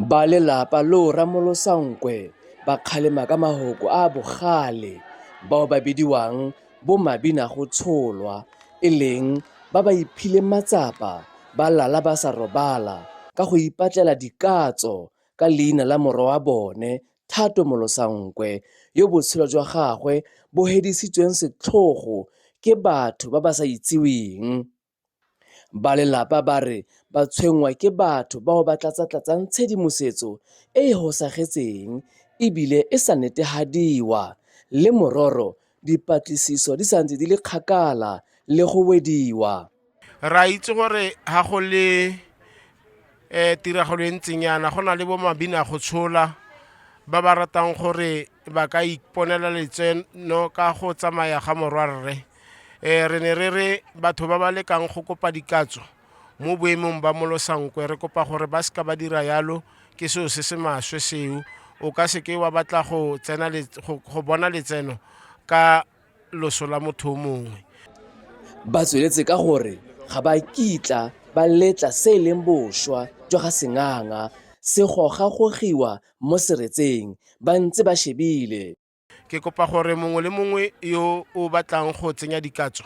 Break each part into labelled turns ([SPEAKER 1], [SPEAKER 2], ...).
[SPEAKER 1] Ba lelapa loo Ramolosa Nkwe ba kgalema ka mahoko a a bogale bao ba bidiwang bo Mabinagotsholwa e leng ba ba iphileng matsapa ba lala ba sa robala ka go ipatlela dikatso ka leina la morwa wa bone Thato Molosa Nkwe yo botshelo jwa gagwe bo hedisitsweng setlhogo ke batho ba ba sa itseweng. Balelapa ba re ba tshwenngwa ke batho bao ba tlatsatlatsang tshedimosetso e e hosagetseng e bile e sa netehadiwa le mororo dipatlisiso di sa ntse di le kgakala le go wediwa. Re a itse
[SPEAKER 2] gore ga go le um tiragalo e ntseng yana go na le bo mabina go tshola ba ba ratang gore ba ka iponela letseno ka go tsamaya ga morwarre um re ne re re batho ba ba lekang go kopa dikatso mo boemong ba molosankwe re kopa gore ba seka ba dira yalo ke seo se se maswe seo o ka seke wa batla go tsena go bona letseno ka loso la motho o mongwe. Ba
[SPEAKER 1] tsweletse ka gore ga ba kitla ba letla se e leng boswa jwa ga Senganga se gogagogiwa mo seretseng ba ntse ba shebile. Ke kopa
[SPEAKER 2] gore mongwe le mongwe yo o batlang go tsenya dikatso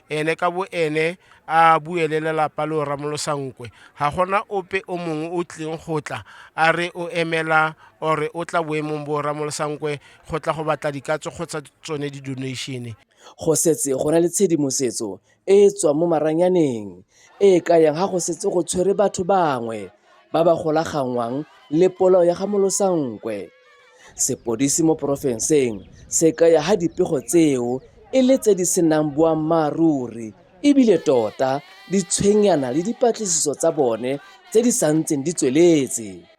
[SPEAKER 2] ene ka bo ene a bue le lelapa lo ramolosa nkwe ga gona ope o mongwe o tlileng go tla a re o emela ore o tla boemong bo ramolosa nkwe go tla go batla dikatso kgotsa tsone di-donation go setse
[SPEAKER 1] go na le tshedimosetso e e tswang mo maranyaneng e e kayang ga go setse go tshwere batho bangwe ba ba golaganngwang le polao ya ga molosankwe sepodisi mo porofenseng se kaya ga dipego tseo e le tse di senang boammaaruri ebile tota di tshwenyana le dipatlisiso tsa bone tse di santseng di tsweletse